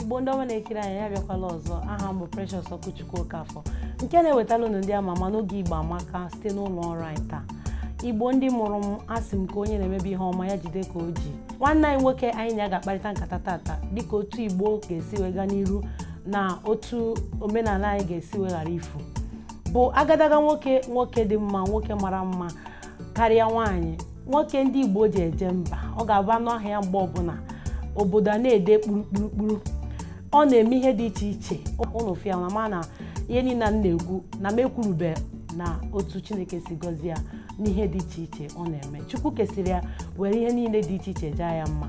igbo ndị ọma na-ekiri anyị ya bịakwala ọzọ aha m bụ Precious Okwuchukwu Okafọ nke na-ewetara unu ndị ama ama n'oge Igbo Amaka site n'ụlọ ọrụ anyị taa igbo ndị mụrụ m asị m ka onye na-emebe ihe ọma ya jide ka o ji nwanne anyị nwoke anyị na ya ga-akparịta nkata tata dịka otu igbo ga-esi wee gaa n'iru na otu omenala anyị ga-esi wee ghara ifu bụ agadaga nwoke dị mma nwoke mara mma karịa nwaanyị nwoke ndị Igbo ji eje mba ọ ga-abụ a nụ aha ya mgbe ọbụla obodo a na-ede kpurukpurukpuru ọ na-eme ihe dị iche iche unu fụ ya unu ama na ihe niile m na-ekwu na m ekwurube na otu Chineke si gọzie ya n'ihe dị iche iche ọ na-eme Chukwu kesịrị ya were ihe niile dị iche iche jaa ya mma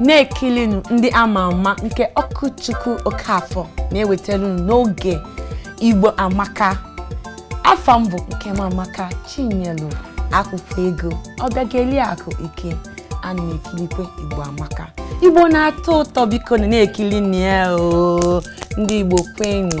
na-ekilinu ndị ama ama nke Okwuchukwu Okafọ na-ewetara unu n'oge igbo amaka afa m bụ Nkemamaka chinyelu akwụkwọ ego ọbịageli akụ ike ana m ekilikwe igbo amaka igbo na-atọ ụtọ bikonu na-ekilinu ya oo ndị igbo kwenụ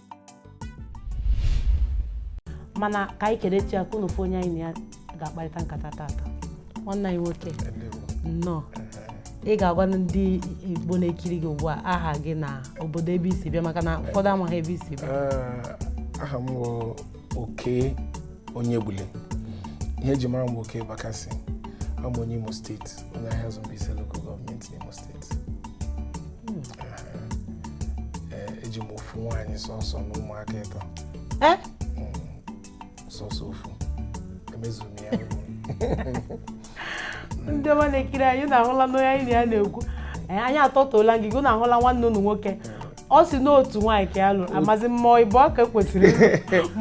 mana ka anyị kere chi aka unu fụ onye anyị na ya ga-akparịta nkata tata nwanne anyị nwoke nnọọ ị ga-agwa ndị igbo na-ekiri gị ugbu a aha gị na obodo ebe i si bịa maka na ụfọdụ amaghị ebe i si bịa eh, aha m Okey Onyegbule ihe e ji mara m Okey Bakassi abụ m onye Imo steeti onye Ahiazu Mbaise local gọọmenti n'Imo steeti Eh, eji m ofu nwaanyị sọsọ na ụmụaka ịtọ Eh? sọsọ ofu emezu m ya ndị ọma na-ekiri anyị unu ahụla n'onye anyị na ya na-ekwu Eh, anyị atọtụola ngịga unu ahụla nwanne unu nwoke ọ sị na otu nwaanyị ka ya lụrụ amazi m ma ọ ịbụa ka kwesịrị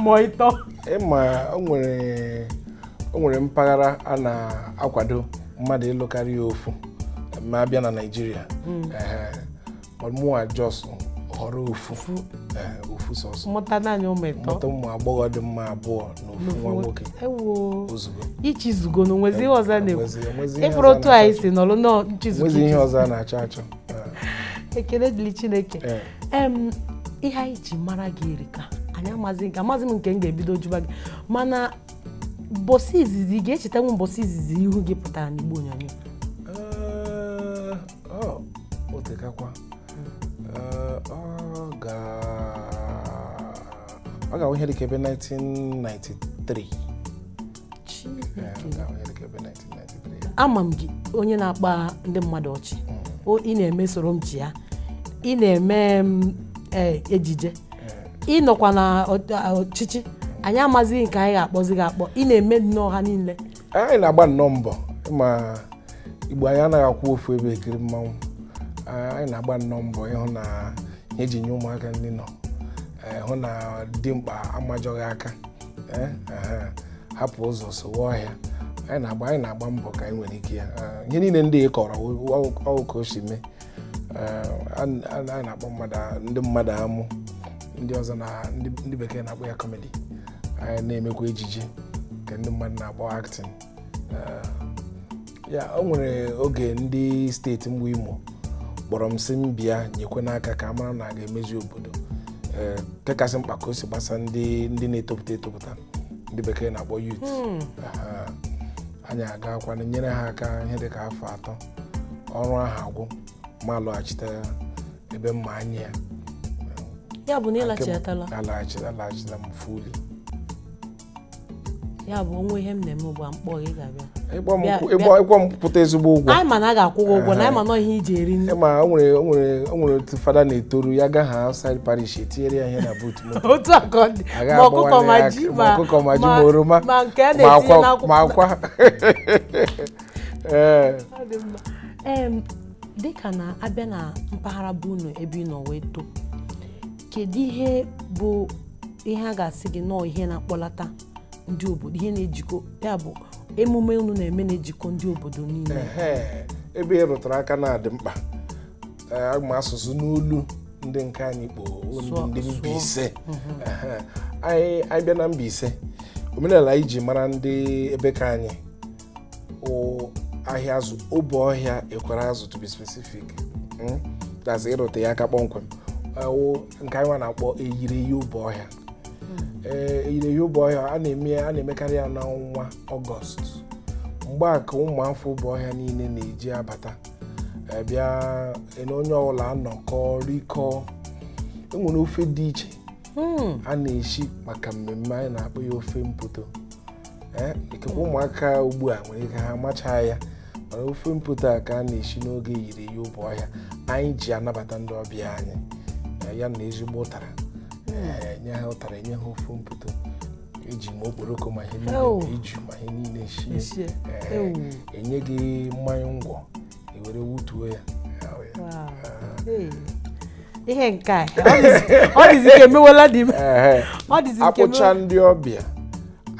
ma ọ ịtọ ị ma o nwere mpaghara a na-akwado mmadụ ịlụ karịa ofu ma a bịa na Naịjirịa hmm. mụa just họrọ ofu ofu sọsọ mụta naanị ụmụ ịtọ mụta ụmụ agbọghọ dị mma abụọ na ofu nwa nwoke ozugbo ichizugo na o nwezi ihe ọzọ na-ekwu ị fụrụ otu anyị si nọrọ nọọ nchizugo o nwezi ihe ọzọ a na-achọ achọ ekele dịrị chineke Ee. em ihe anyị ji mara gị erika anyị amazi m nke m ga-ebido jụba gị mana mbọsị izizi ị ga-echetanwu mbọsị izizi ihu gị pụtara n'igbe onyonyo Ee, o tekakwa Ee, ọ ga ọ ga-awụ ihe dịka ebe 1993 ama m gị onye na-akpa ndị mmadụ ọchị O- ị na-eme social media ị na-eme m eh, ejije ị nọkwa na ọ- ọchịchị anyị amazighị nke anyị ga-akpọzi gị akpọ ị na-eme nnọọ ha niile anyị na-agba nnọọ mbọ ma Igbo anyị anaghị akwụ ofu ebe ekiri mmanwụ Ah, anyị na-agba nnọọ mbọ ịhụ na ihe eji nye ụmụaka nri nọ eh, hụ na dimkpa amajọghị aka eh, aha, hapụ ụzọ sowe ọhịa anyị na-agba anyị na-agba mbọ ka anyị nwere ike ya Ah, ihe niile ndị ị kọrọ ọ wụ ka o si mee Ah, a a- a na-akpa mmadụ a- ndị mmadụ amụ ndị ọzọ na ndị ndị bekee na-akpọ ya comedy anyị na-emekwa ejije nke ndị mmadụ na-akpọ acting Ah, ya o nwere oge ndị steeti mba Imo kpọrọ m sị m bịa nyekwenụ aka ka a mara na a ga-emezi obodo ee nke kasị mkpa ka o si gbasa ndị ndị na-etopụta etopụta ndị bekee na-akpọ youth Aha. anyị agaakwanụ nyere ha aka ihe dịka afọ atọ ọrụ ahụ agwụ mụ alọghachite ebe m ma anya ya ya bụ na ị lachitala alaghachila alaghachila m fully ya bụ o nwee ihe m na-eme ugbu a m kpọọ gị ị ga-abịa ịkpọ m Bịa- kwụ- bịa. ịkpọ- ịkpọ m pụta ezigbo ụgwọ anyị ma na a ga-akwụ gị ụgwọ na anyị ma na ọ ihe i ji eri nri ma o nwere o nwere o nwere otu fada na-etoru ya gaa ha outside parish etinyere ya ihe na boot moto otu a ka ọ dị A gaghị ma ọkụkọ agbawa ma ya ji aka, ma ọkụkọ ma ji ma oroma ma nke a ma na-etinye akwa ma n'akwụkwọ akwa ee Ọ dị mma. Em, dịka na a bịa na mpaghara be unu ebe ị nọ wee too kedu ihe bụ ihe a ga-asị gị na ọ ihe na-akpọlata ndị obodo ihe na-ejikọ ya bụ emume unu na-eme na-ejikọ ndị obodo niile Ehe, ebe ị rụtara aka na-adị mkpa Ee, aga m asụsụ n'olu ndị nke anyị kpo ndị Sụọ- ndị sụọ. Mbaise Ehe, anyị anyị bịa na Mbaise omenala anyị ji mara ndị ebe ke anyị wụ Ahịazụ Obohia Ekwereazụ to be specific Mm? that's ịrụte ya aka kpọmkwem wụ nke anyị nwa na-akpọ Eyiri eyi Obohia ee Eyiri eyi Obohia a na-eme ya a na-emekarị ya n'ọnwa ọgọst mgbe a ka ụmụ afọ Obohia niile na-eji abata eh, bịa eh, na onye ọbụla anọkọọ rikọọ enwere ofe dị iche Hmm. a na-eshi maka mmemme anyị na-akpọ ya ofe mpoto Ee, ikekwe ụmụaka ugbu a nwere ike ha amachaa ya mana ofe mpoto a ka a na-eshi n'oge Eyiri eyi Obohia anyị ji anabata ndị ọbịa anyị ya na ezigbo ụtara enye ha ụtara enye ha ofe mpoto eji ma okporoko ma ihe Ew. niile ma iju ma ihe niile shie Esie. Ee, Ew. enye gị mai ngwọ ewere wutuo ya ihe nke a ọ dịzi ka emewela di m ọ dịzi nke akpụcha ndị ọbịa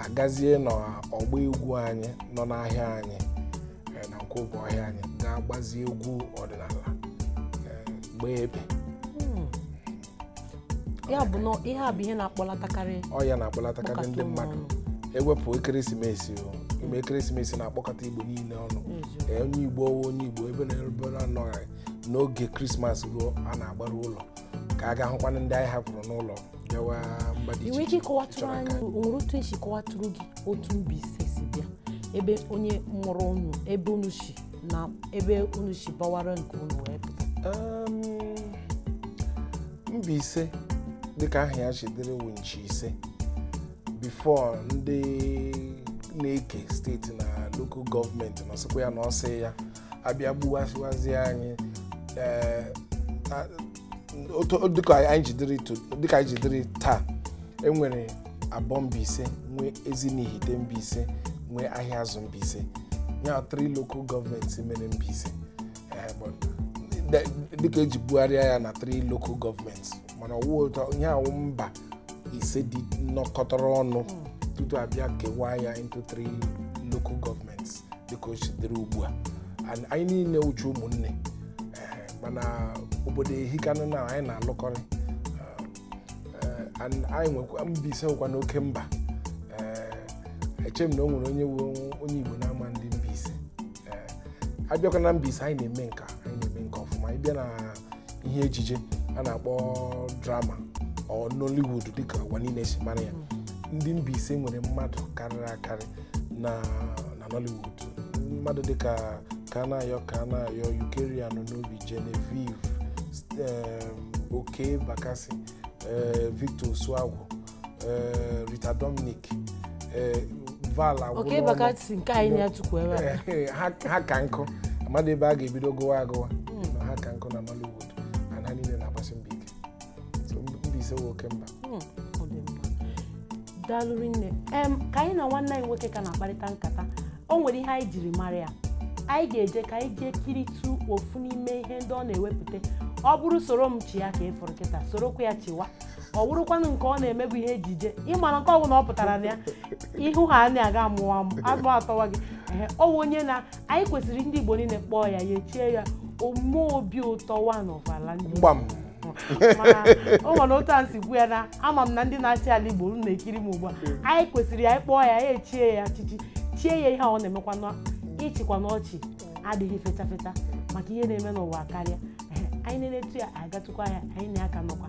agazie n'ọgba egwu anyị nọ n'ahịa anyị eh, na Nkwọ Obohia anyị ga-agbazi egwu ọdịnala eh, gbaa ebe ya bụ na ihe a bụ ihe na-akpọlatakarị ọ ya na-akpọlatakarị mkpọkọta ndị ụmụ mmadụ ọnụ. ewepụ ekeresimesi o ime ekeresimesi na-akpọkọta igbo niile ọnụ Eziokwu. Ee, onye igbo ọ wụ onye igbo ebe na ebe na anọghị n'oge krismas ruo a na-agbaru ụlọ ka a ga hụkwana ndị anyị hapụrụ n'ụlọ bịawa mba dị iche iche i nwere ike ịkọwatụrụ anyị ka- o nwere otu esi kọwatụrụ gị otu Mbaise si bịa ebe onye mụrụ unu ebe unu si na ebe unu si bawara nke unu wee pụta Um, Mbaise dịka aha ya ji dịrị wụ nchi ise before ndị na-eke steeti na local gọọmenti na ọsịkwa ya na ọsị ya abịa gbuwasịwazi anyị eh, a- otu dịka anyị ji dịrị to- dịka anyị ji dịrị taa enwere Abọ Mbaise nwee Ezinihite Mbaise nwee Ahiazu Mbaise ya three local governments mere Mbaise Eh, but de- dịka eji gbugharịa ya na three local governments mana ọwụ ụtọ ihe awụ mba ise ndị nọkọtara ọnụ tutu abịa kewaa ya into three local governments dịka o ji dịrị ugbu a And anyị niile wụcha ụmụnne mana obodo ehikanụ na anyị na-alụkọrị anyị nwekwa Mbaise wụkwanụ oke mba eche m na o nwere onye onye Igbo na-ama ndị Mbaise abịakwa na Mbaise anyị na-eme nka anyị na-eme nka ọfụma ị bịa na ihe ejije a na-akpọ drama or Nollywood dịka ụwa niile si mara ya ndị Mbaise nwere mmadụ karịrị akarị na na Nollywood mmadụ dịka Kanayo Kanayo Eucharia Anunobi Genevieve st- em, Okey Bakassi eh, Victor Osuagwu eh, Rita Dominic eh, Val Agwụlọnụ. Okey Bakassi nke anyị na ya tukwu ebe a Eh, ha ha ka nkụ amadị ebe a ga-ebido gụwa agụwa ha ka nkụ na Nollywood and ha niile na-agbasi mbọ ike So, Mbaise wụ oke mba Hmm, ọ dị mma. daalụ rinne em ka anyị na nwanne anyị nwoke ka na-akparịta nkata o nwere ihe anyị jiri mara ya anyị ga-eje ka anyị jee kiritụ ofu n'ime ihe ndị ọ na-ewepụta ọ bụrụ soro m chịa ka ị fụrụ kịta sorokwa ya chịwa ọ wụrụkwanụ nke ọ na-eme bụ ihe ejije ị mara nke ọbụla ọ pụtara na ya ihu ha anyị aga amụwa m agụ atọwa gị ehe ọ wụ onye na anyị kwesịrị ndị igbo niile kpọọ ya echie ya Ome obi ụtọ one of ala ndị Igbo o nwere otu a m si kwuo ya na ama m na ndị na-achị ala Igbo unu na-ekiri m ugbu a anyị kwesịrị ya ịkpọ ya anyị echie ya echichi chie ya ihe a ọ na-emekwanụ ịchịkwanụ ọchị adịghị fecha fecha maka ihe na-eme n'ụwa karịa Ehe, anyị na-enetu ya anyị gatụkwa ya anyị na ya ka nọkwa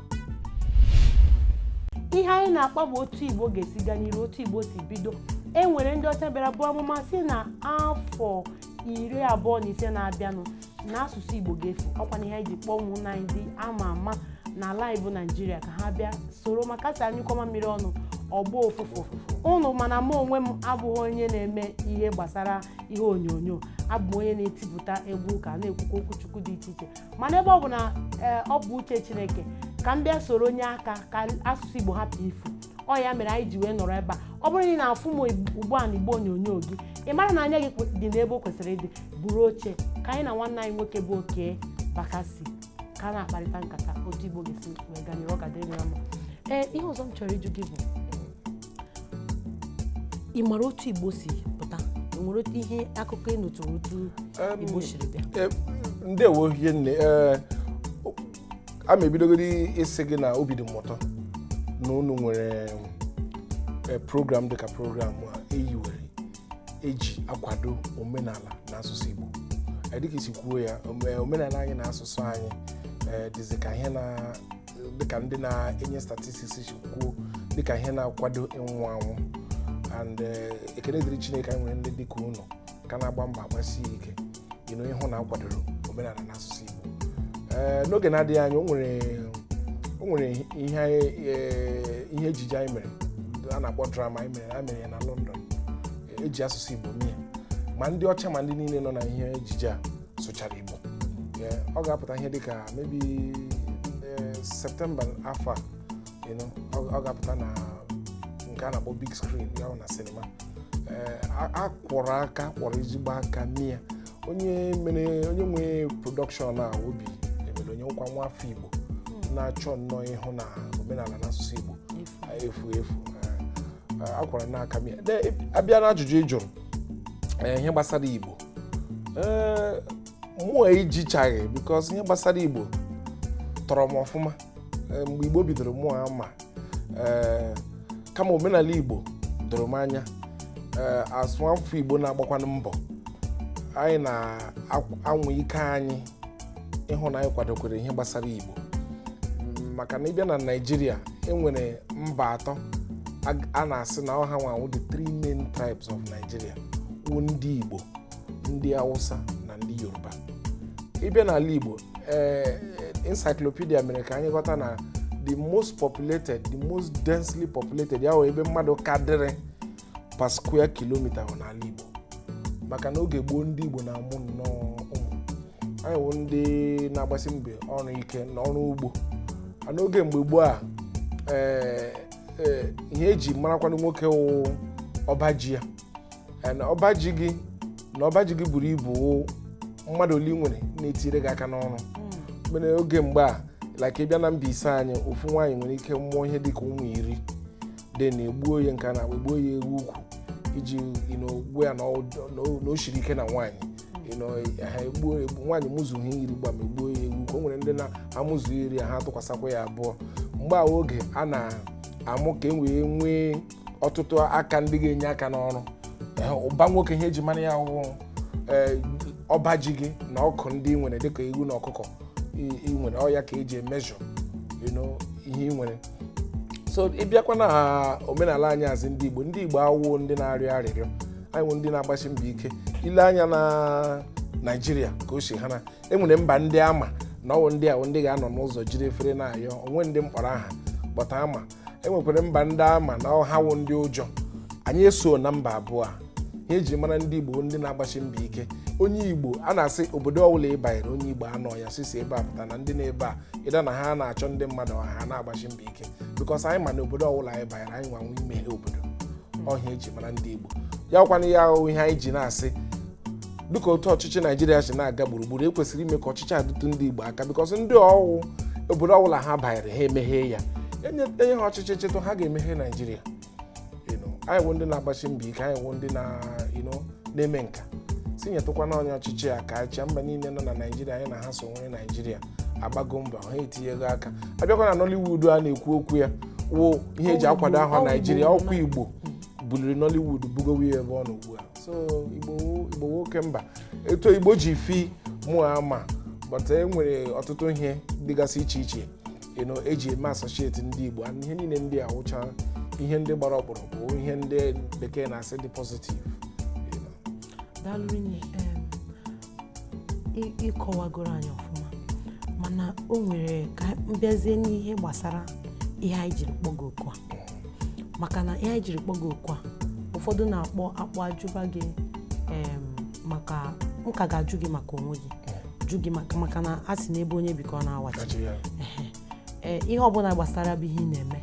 ihe anyị na-akpa bụ otu igbo ga-esi gaa n'iru otu igbo si bido e nwere ndị ọcha bịara buo amụma si na afọ iri abụọ na ise na-abịanụ na asụsụ igbo ga-efu ọkwa na ihe anyị ji kpọọ ụmụnna anyị ndị ama ama n'ala anyị bụ naijiria ka ha bịa soro maka a sị a nyụkọọ mamịrị ọnụ ọ gbọọ ụfụfụ ụnụ mana mụ onwe m abụghị onye na-eme ihe gbasara ihe onyonyo abụ m onye na-etipụta egwu ụka na-ekwukwa okwu chukwu dị iche iche mana ebe ọ bụ na ee, ọ bụ uche chineke ka m bịa soro nye aka ka asụsụ igbo hapụ ifu ọ ya mere anyị ji wee nọrọ ebe a ọ bụrụ na ị na-afụ m ugbu a na igbe onyonyo gị ị mara na anya gị kwe- dị n'ebe o kwesịrị ịdị buru oche ka anyị na nwanne anyị nwoke bụ Okey Bakassi ka a na-akparịta nkata otu igbo ga-esi wee gaa n'iru ọ ga-adịrị gị na mma ee ihe ọzọ m chọrọ ịjụ gị bụ ị mara otu igbo si pụta o nwere otu ihe akụkọ ị nụtụrụ otu Em, igbo siri bịa Eh, ndewo hie nne Eh, o- a ma ebidogodi ịsị gị na obi dị m ụtọ na unu nwere eh, program dịka program a eyiwere eji akwado omenala na asụsụ Igbo Eh, dịka i si kwuo ya ome- omenala anyị na asụsụ anyị eh, dịzị ka ihe na dịka ndị na-enye statistics si kwuo dịka ihe na-akwado ịnwụ anwụ and eh, ekele dịrị chineke anyị nwere ndị dịka unu ka na-agba mbọ agbasi ike ịnụ ịhụ na akwadoro omenala na asụsụ igbo Eh, n'oge na-adịghị anya o nwere o nwere ihe anyị- eh, ihe ejije anyị mere a na-akpọ drama anyị mere a mere ya na london eji asụsụ igbo mee ma ndị ọcha ma ndị niile nọ na ihe ejije a sụchara igbo Ee, ọ ga-apụta ihe dịka maybe septemba afọ a you know, ọ ọ ga-apụta na nke a na-akpọ big screen ya bụ na sinima Ee, a- a kwọrọ aka kwọrọ ezigbo aka mee ya onye mere onye nwe production a Obi Emelonye wụkwa nwa afọ igbo na-achọ nnọọ ịhụ na omenala na asụsụ igbo efu efu a kwọrọ nnọọ aka mee ya a bịa na ajụjụ ị jụrụ eh, ihe gbasara igbo eh, mụa ejichaghị because ihe gbasara igbo tọrọ m ọfụma eh, mgbe igbo bidoro mụa ama kama omenala igbo doro m anya as nwa afọ igbo na-agbakwanụ mbọ anyị na-anwa ike anyị ịhụ na anyị kwadokwere ihe gbasara Igbo maka na ị bịa na Naịjirịa enwere mba atọ a na-asị na ọ ha nwa wụ the three main tribes of Nigeria wụ ndị Igbo ndị Hausa na ndị Yoruba ị bịa n'ala Igbo ee eh, encyclopedia mere ka anyị ghọta na the most populated the most densely populated ya wụ ebe mmadụ ka dịrị per square kilometer wụ n'ala Igbo maka na oge gboo ndị Igbo na-amụ nnọọ ụmụ anyị wụ ndị na-agbasi mbọ ọrụ ike na ọrụ ugbo and oge mgbe gboo a ee, ee, ihe eji marakwanụ nwoke wụ ọba ji ya Ee, na ọba ji gị na ọba ji gị buru ibu wụ mmadụ ole ị nwere na-etire gị aka n'ọrụ mere oge mgbe a like ị bịa na Mbaise anyị ofu nwaanyị nwere ike mụọ ihe dịka ụmụ iri then egbuo ya nke a na-akpọ egbuo ya ewu ukwu iji you know, gwa ya na ọ- na o- na o siri ike na nwaanyị you know, ha egbuo egbu- nwaanyị mụzuo ha iri gbam egbuo ya ewu ukwu o nwere ndị na-amụzu iri ya ha tụkwasakwa ya abụọ mgbe a oge a na-amụ ka e wee nwee ọtụtụ aka ndị ga-enye aka n'ọrụ Ee, ụba nwoke ihe eji mara ya wụ ee ọba ji gị na ọkụ ndị ị nwere dịka ewu na ọkụkọ ị ị nwere ọ ya ka eji measure you know, ihe ị nwere so ị bịakwa na omenala anyị as ndị Igbo ndị Igbo awụo ndị na-arịọ arịrịọ anyị wụ ndị na-agbasi mbọ ike i lee anya na Naịjirịa ka o si ha na enwere mba ndị ama na ọ wụ ndị a wụ ndị ga-anọ n'ụzọ jiri efere na-ayọ o nwee ndị m kpọrọ aha but ama enwekwara mba ndị ama na ọ ha wụ ndị ụjọ anyị esoo na mba abụọ a ihe eji mara ndị igbo ndị na-agbasi mbọ ike onye igbo a na-asị obodo ọbụla ị banyere onye igbo anọọ ya sisi ebe a pụta na ndị nọ ebe a either na ha na-achọ ndị mmadụ or ha na-agbasi mbọ ike because anyị ma na obodo ọbụla anyị banyere anyị nwa nwe imeghe obodo ọ ihe a eji mara ndị igbo ya ọ kwa na ya wụ ihe anyị ji na-asị dịka otu ọchịchị naijiria si na-aga gburugburu ekwesịrị ime ka ọchịchị adịtụ ndị igbo aka because ndị ọ wụ obodo ọbụla ha banyere ha emeghe ya enye enye ha ọchịchị chịtụ ha ga-emeghe naijiria anyị wụ ndị na-agbasi mbọ ike anyị wụ ndị na-eme nka sị nyetụkwanụ anyị ọchịchị a ka achịa mba niile nọ na naijiria anyị na ha so nwere naijiria agbago mbọ ha etinyego aka a bịakwa na nollywood a na-ekwu okwu ya wụ ihe eji akwado aha naijiria ọ kwa igbo buliri nollywood bugowe ya ebe ọ nọ ugbu a so igbo wụ oke mba etu igbo ji film ama but e nwere ọtụtụ ihe dịgasị iche iche you know, eji eme associate ndị Igbo and ihe niile ndị a wụcha ihe ndị gbara ọkpụrụkpụ ihe ndị bekee na-asị dị positive you know. daalụ rinne em, ị- ịkọwagoro anyị ọfụma mana o nwere ka m bịazie n'ihe gbasara ihe anyị jiri kpọ gị oku a maka na ihe anyị jiri kpọ gị oku a ụfọdụ na-akpọ akpọ ajụba gị em, maka m ka ga-ajụ gị maka onwe gị jụ gị maka maka na a sị na ebe onye bi ka ọ na-awachi kachi ya Ehe. Ee, ihe ọbụla gbasara bụ ihe ị na-eme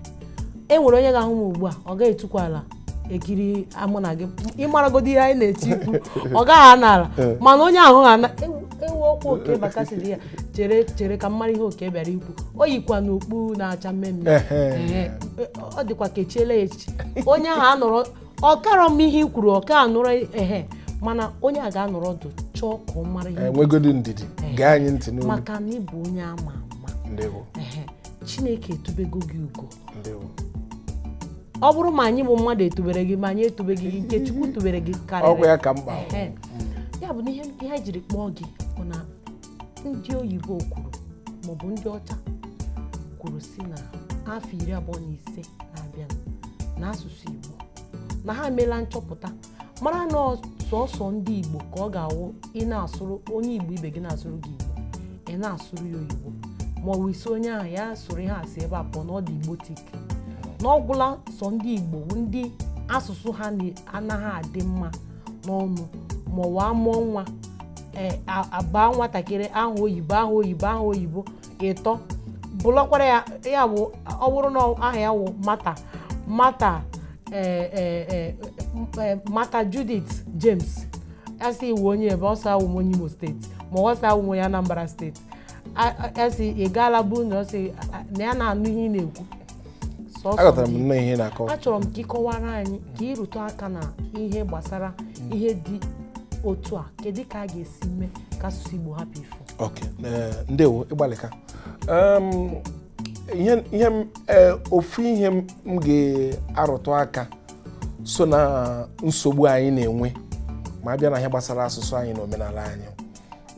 e nwere onye ga-ahụ m ugbu a ọ gaghị etukwa ala ekiri mụ na gị ịmaragodi ihe anyị na-eti ikwu ọ gaghị anọ ala mana onye ahụ ha na ewu ewu ọkwa Okey Bakassi dị ya chere chere ka m mara ihe Okey bịara ikwu o yikwa n'okpu na-acha mmee mmee Ehe. Ehe. ọ dịkwa ka e chiela ya echichi onye ahụ anọrọ ọkara m ihe i kwuru ọka anụrụ ehe mana onye a ga-anọrọ ọdụ chọọ ka ọ mara ihe enwegodi ndidi gee anyị ntị n'olu maka na ị bụ onye ama ama ndewo ehe chineke etubego gị ugo ndewo ọ bụrụ ma anyị bụ mmadụ etubere gị ma anyị etubeghị gị nke chukwu tubere gị ọkwa karịrị ya ka mkpa Ehe. ya bụ na ihe ihe anyị jiri kpọọ gị bụ na ndị oyibo kwuru maọbụ ndị ọcha kwuru sị na afọ iri abụọ na ise na-abịa na asụsụ igbo na ha emeela nchọpụta mara na ọ- sọsọ ndị igbo ka ọ ga-awụ ị na-asụrụ onye igbo ibe gị na-asụrụ gị igbo ị na-asụrụ ya oyibo ma ọ bụ ị sị onye ahụ ya sụrụ ihe a si ebe a pụọ na ọ dị igbotic na ọ gwụla sọ ndị igbo bụ ndị asụsụ ha na- anaghị adị mma n'ọnụ ma ọ wụ a mụọ nwa e, a baa nwatakịrị aha oyibo aha oyibo aha oyibo ịtọ bụlọkwara ya ya bụ ọ bụrụ na aha ya wụ Martha Martha e, e, Martha Judith James a sị ị wụ onye ebee ọ sị awụ m onye Imo State ma ọ sị awụ m onye Anambra State A- a- esi ị gaala bụ na ọ sị a- na ya na-anụ ihe ị na-ekwu Sọsọ aghọtara m gị. nnọọ ihe ị na-akọ achọrọ m ka ị kọwara anyị ka ị rụtụ aka na ihe gbasara ihe dị otu a kedu ka a ga-esi mee ka asụsụ igbo hapụ ifu ok eh, ndewo ị gbalịka Em, ihe ihe m eh, ofu ihe m m ga-arụtụ aka so na nsogbu anyị na-enwe ma a bịa na ihe gbasara asụsụ anyị na omenala anyị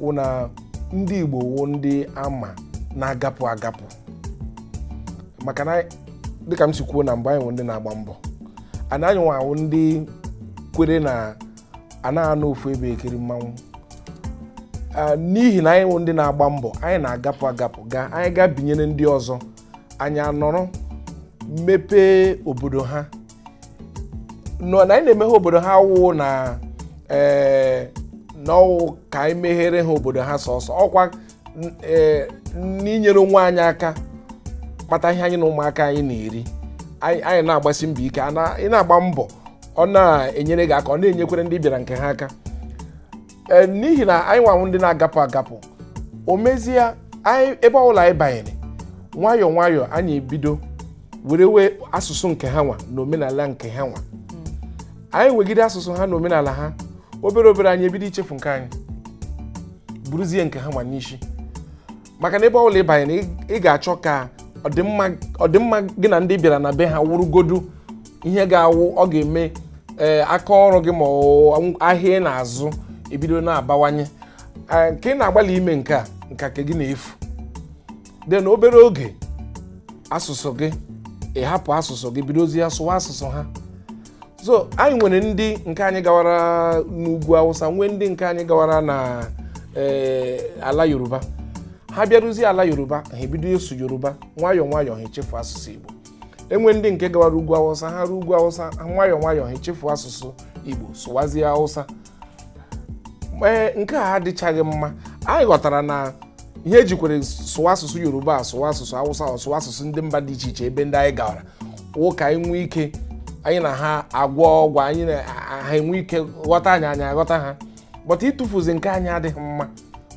wụ na ndị igbo wụ ndị a ma na-agapụ agapụ maka na dịka m si kwuo na mbụ anyị wụ ndị na-agba mbọ and anyị nwa wụ ndị kwere na a naghị anọ ofu ebe ekiri mmanwụ Ah, n'ihi na anyị wụ ndị na-agba mbọ anyị na-agapụ agapụ gaa anyị gaa binyere ndị ọzọ anyị anọrọ mepee obodo ha nọ na anyị na-emeghe obodo ha wụ na ee na ọ wụ ka anyị meghere ha obodo ha sọsọ ọkwa n- ee, n'inyere onwe anyị aka kpata ihe anyị na ụmụaka anyị na-eri anyị anyị na-agbasi mbọ ike a na- ị na-agba mbọ ọ na-enyere gị aka ọ na-enyekwere ndị ị bịara nke ha aka Ee, n'ihi na anyị nwa wụ ndị na-agapụ agapụ o mezie anyị ebe ọbụla anyị banyere nwayọọ nwayọọ anyị ebido werewe asụsụ nke ha nwa na omenala nke ha nwa anyị wegide asụsụ ha na omenala ha obere obere anyị ebido ichefu nke anyị buruzie nke ha nwa n'isi maka na ebe ọ bụla ị banyere ị- ị ga-achọ ka ọdịmma ọdịmma gị na ndị ị bịara na be ha wụrụgodu ihe ga-awụ ọ ga-eme ee, aka ọrụ gị ma ọ wụ ahịa ị na-azụ ebido na-abawanye Ee, nke ị na-agbalị ime nke a nke a nke gị na-efu then obere oge asụsụ gị ị hapụ asụsụ gị bidozie sụwa asụsụ ha so anyị nwere ndị nke anyị gawara n'ugwu awụsa nwee ndị nke anyị gawara na eh, ala yoruba ha bịaruzie ala yoruba ha ebido ịsụ yoruba nwayọọ nwayọọ ha echefu asụsụ igbo e nwere ndị nke gawara ugwu awụsa ha ruo ugwu awụsa nwayọọ nwayọọ ha echefu asụsụ igbo sụwazie awụsa ee nke a adịchaghị mma anyị ghọtara na ihe e ji kwere sụwa asụsụ yoruba sụwa asụsụ awụsa sụwa asụsụ ndị mba dị iche iche ebe ndị anyị gawara wụ ka anyị nwee ike anyị na ha agwọgwa anyị na ha enwe ike ghọta anyị anyị aghọta ha but ịtụfuzi nke anyị adịghị mma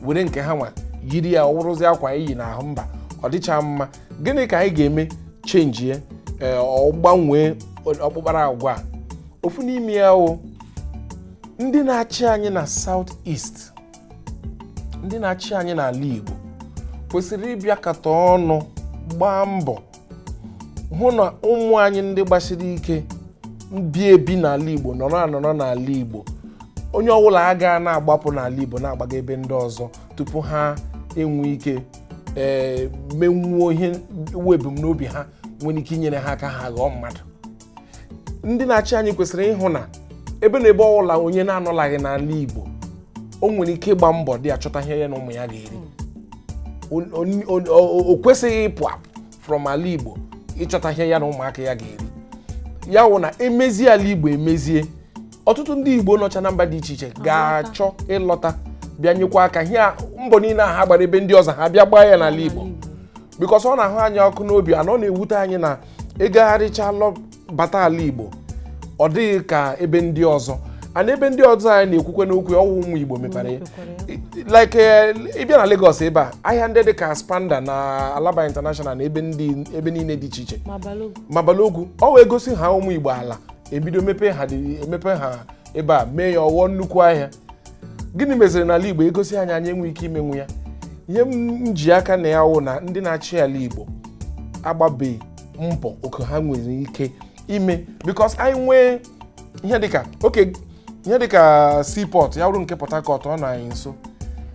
were nke ha nwa yiri ya ọ wụrụzi akwa anyị yi n'ahụ mba ọ dịcha mma gịnị ka anyị ga-eme change ya ee ọ gbanwee ọkpụkpara agwa a ofu n'ime ya wụ ndị na-achị anyị na South East ndị na-achị anyị n'ala Igbo kwesịrị ịbịakọta ọnụ gbaa mbọ hụ na ụmụ anyị ndị gbasiri ike bi ebi n'ala Igbo nọrọ anọrọ n'ala Igbo onye ọbụla agaa na-agbapụ n'ala Igbo na-agbaga ebe ndị ọzọ tupu ha enwe ike ee eh, menwuo ihe wụ ebumnobi ha nwere ike inyere ha aka ha ghọọ mmadụ ndị na-achị anyị kwesịrị ịhụ na ebe na ebe ọbụla onye na-anọlaghị n'ala Igbo o nwere ike ịgba mbọ there chọta ihe ya na ụmụ ya ga-eri o kwesịghị ịpụ apụ from ala Igbo ịchọta ihe ya na ụmụaka ya ga-eri ya wụ na e mezie ala Igbo emezie ọtụtụ ndị Igbo nọcha na mba dị iche iche ga-achọ ịlọta bịa nyekwa aka ihe mbọ niile a ha gbara ebe ndị ọzọ ha bịa gbaa ya n'ala Igbo because ọ na-ahụ anyị ọkụ n'obi and ọ na-ewute anyị na ị gagharịcha lọ bata ala igbo ọ dịghị ka ebe ndị ọzọ and ebe ndị ọzọ anyị na-ekwukwanụ okwu ya, ọ wụ ụmụ igbo mepere ya like eh, ị bịa na Lagos ebe a ahịa ndị dị ka Aspanda na Alaba International na ebe ndị ebe niile dị iche iche ma Balogun ma Balogun ọ wụ e gosi ha ụmụ Igbo ala ebido mepe ha dị- emepe ha ebe a mee ya ọ ghọọ nnukwu ahịa gịnị meziri n'ala igbo egosi anyị anyị enwe ike imenwu ya ihe m ji aka na ya wụ na ndị na-achị ala igbo agbabeghị mbọ oke ha nwere ike ime because anyị nwee ihe dịka oke ihe dịka seaport ya wụrụ nke port harcourt ọ nọ anyị nso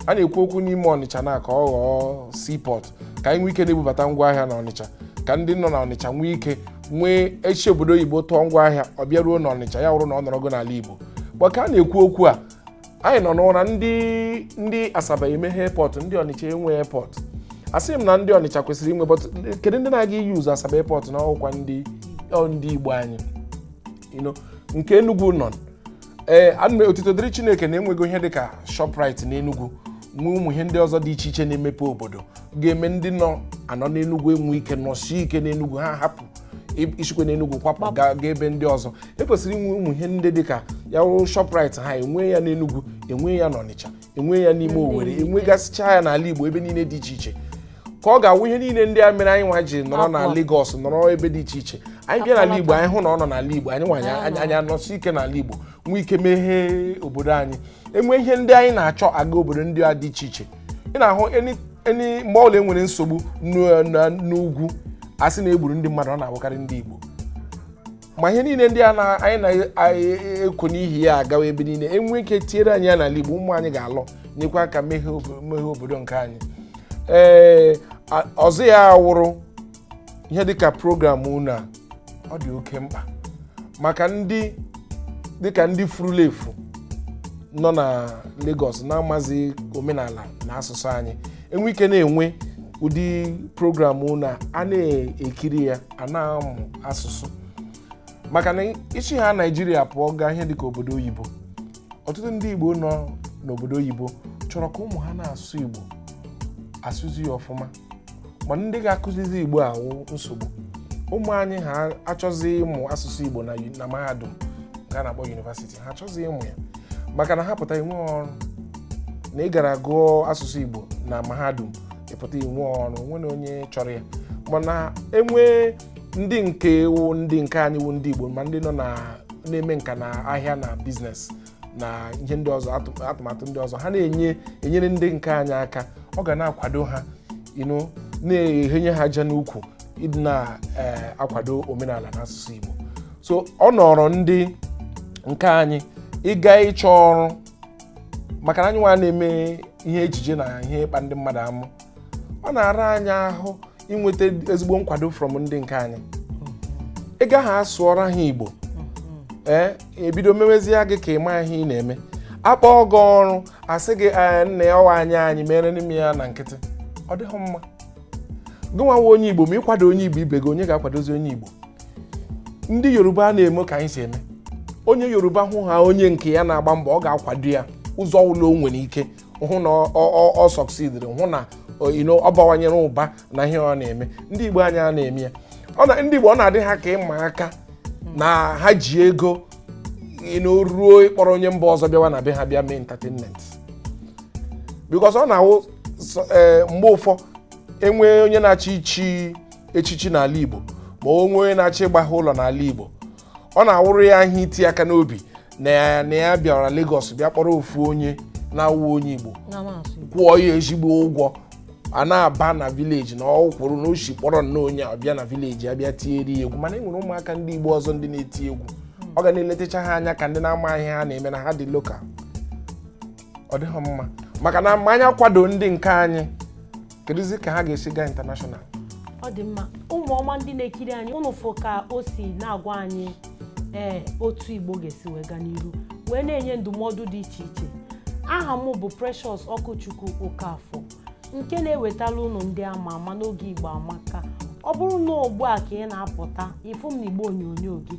a na-ekwu okwu n'ime ọnịcha na ka ọ ghọọ seaport ka anyị nwee ike na-ebubata ngwa ahịa na ọnịcha ka ndị nọ na ọnịcha nwee ike nwee esi obodo oyibo tụọ ngwa ahịa ọ bịa ruo n'ọnịcha ya wụrụ na ọ nọrọgo n'ala igbo but ka a na-ekwu okwu a anyị nọ n'ụra ndị ndị asaba emeghe airport ndị ọnịcha enwe airport asị m na ndị ọnịcha kwesịrị inwe but kedu ndị na-aga iyuzu asaba airport na ọ wụkwa ndị ọ ndị igbo anyị you know, nke enugwu nọ ee anọ otito dịrị chineke na enwego ihe dịka shoprite n'enugwu nwee ụmụ ihe ndị ọzọ dị iche iche na-emepe obodo ga-eme ndị nọ anọ n'enugwu enwe ike nọsie ike n'enugwu ha hapụ i- isikwe n'enugwu kwapụ gaa gaa ebe ndị ọzọ ekwesịrị inwe ụmụ ihe ndị dịka ya wụrụ shoprite ha enwee ya n'enugwu enwee ya n'ọnịcha enwe ya n'ime Owerri enwegasịcha ya n'ala Igbo ebe niile dị iche iche ka ọ ga-awụ ihe niile ndị a mere anyị nwa ji nọrọ na Lagos nọrọ ebe dị iche iche anyị bịa n'ala Igbo anyị hụ na ọ nọ n'ala Igbo anyị nwa anyị anọsie ike n'ala Igbo nwee ike meghee obodo anyị enwe ihe ndị anyị na-achọ aga obodo ndị a dị iche iche ị na-ahụ eni mgbe ọbụla enwere nsogbu n'ugwu a sị na egburu ndị mmadụ ọ na-awụkarị ndị Igbo ma ihe niile ndị a anyị na-ekwo n'ihi ya agawa ebe niile enwe ike tiere anyị ya n'ala Igbo ụmụ anyị ga-alọ nyekwa aka meghee obodo nke anyị ee ọzọ ya wụrụ ihe dịka program unu a ọ dị oke mkpa maka ndị dịka ndị furula efu nọ na Lagos na-amazi omenala na asụsụ anyị enwe ike na-enwe ụdị program unu a na-ekiri ya a na-amụ asụsụ maka na isi ha naijiria pụọ gaa ihe dịka obodo oyibo ọtụtụ ndị igbo nọ n'obodo oyibo chọrọ ka ụmụ ha na-asụ igbo asụzi ya ọfụma ma ndị ga-akụzizi igbo awụ nsogbu ụmụ anyị ha achọzi ịmụ asụsụ igbo na mahadum nke a na-akpọ yunivasiti ha achọzi ịmụ ya maka na ha pụta inwe ọrụ na ị gara gụọ asụsụ igbo na mahadum ịpụta inwe ọrụ o nwere onye chọrọ ya mana enwe ndị nke wụ ndị nke anyị wụ ndị Igbo ma ndị nọ na na-eme nka na ahịa na biznes na ihe ndị ọzọ atụmatụ ndị ọzọ ha na-enye enyere ndị nke anyị aka ọ ga na-akwado ha you know na-ehenye ha aja n'ukwu ịdị na-akwado eh, omenala na asụsụ Igbo so ọ nọọrọ ndị nke anyị ịga ịchọ ọrụ maka na anyị nwa na-eme ihe ejije na ihe ịkpa ndị mmadụ amụ ọ na-ara anyị ahụ inweta ezigbo nkwado from ndị nke anyị ị gaha sụọra ha igbo ee e bido mewezie gị ka ị maghị ihe ị na-eme a kpọọ gị ọrụ a sị gị "Ee, nnaa ọ wụ anyị anyị meere nụ m ya na nkịtị ọ dịghị mma gị nwa wụ onye igbo ma ị kwado onye igbo ibe gị onye ga-akwadozi onye igbo ndị yoruba a na-eme ka anyị si eme onye yoruba hụ ha onye nke ya na-agba mbọ ọ ga-akwado ya ụzọ ọ wụla o nwere ike hụ na ọ sọksidiri hụ na ọ bawanyere ụba na ihe ọ na-eme ndị igbo anyị a na-eme ya ndị igbo ọ na-adị ha ka ịma aka na ha ji ego na ọ wụ ịkpọrọ onye mba ọzọ bịawa na be ha bịa mee entertainment because ọ na-awụ sọ- ee, mgbe ụfọ e nwee onye na-achọ ichi echichi n'ala igbo ma o nwee onye na-achọ ịgbaghe ụlọ n'ala igbo ọ na-awụrụ ya ihe iti aka n'obi na ya na ya bịara Lagos bịa kpọrọ ofu onye na-awụ onye igbo kwụọ ya ezigbo ụgwọ a na-aba na village na ọ kwụrụ na o si kpọrọ nnọọ onye a bịa na village a bịa tiere ya egwu mana e nwere ụmụaka ndị igbo ọzọ ndị na-eti egwu ọ ga na-eledacha ha anya ka ndị na-amaghị ihe ha na-eme na ha dị local ọ dịghị mma maka na ma anyị akwado ndị nke anyị kedụzi ka ha ga-esi gaa international ọ dị mma ụmụ ọma ndị na-ekiri anyị ụnụ fụ ka o si na-agwa anyị ee otu igbo ga-esi wee gaa n'iru wee na-enye ndụmọdụ dị iche iche aha m bụ Precious Ọkụchukwu Okafọ nke na-ewetala ụnụ ndị ama ama n'oge igbo amaka ọ bụrụ na ugbu a ka ị na-apụta ịfụ m n'igbe onyonyo gị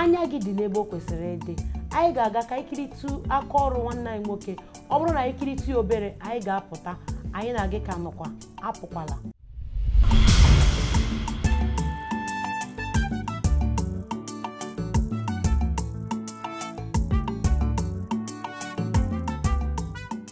anya gị dị n'ebe o kwesịrị ịdị anyị ga-aga ka anyị kiritu aka ọrụ nwanne anyị nwoke ọ bụrụ na anyị kiritu ya obere anyị ga-apụta anyị na gị ka nọkwa apụkwala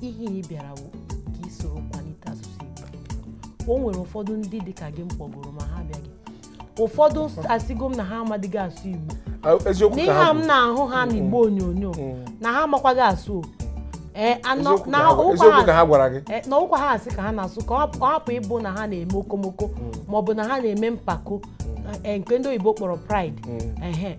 ihe ị bịara wụ ka ị soro kwalite asụsụ Igbo o nwere ụfọdụ ndị dị ka gị m kpọgoro ma ha abịaghị ụfọdụ asịgo m na ha amadịghị asụ Igbo Ah, eziokwu ka n'ihe ha a m bụ. na-ahụ ha n'igbe onyonyo Mm. na ha amakwaghị asụ o. Ee, anọ- Eziokwu na ka ha bụ. ụkwa Eziokwu ka ha ha- gwara gị ee, na ọ wụkwa ha a sị ka ha na-asụ ka ọ hapụ- ọ hapụ ịbụ na ha na-eme okomoko maọbụ na ha na-eme mpako ee, nke ndị oyibo kpọrọ pride Mm. ehe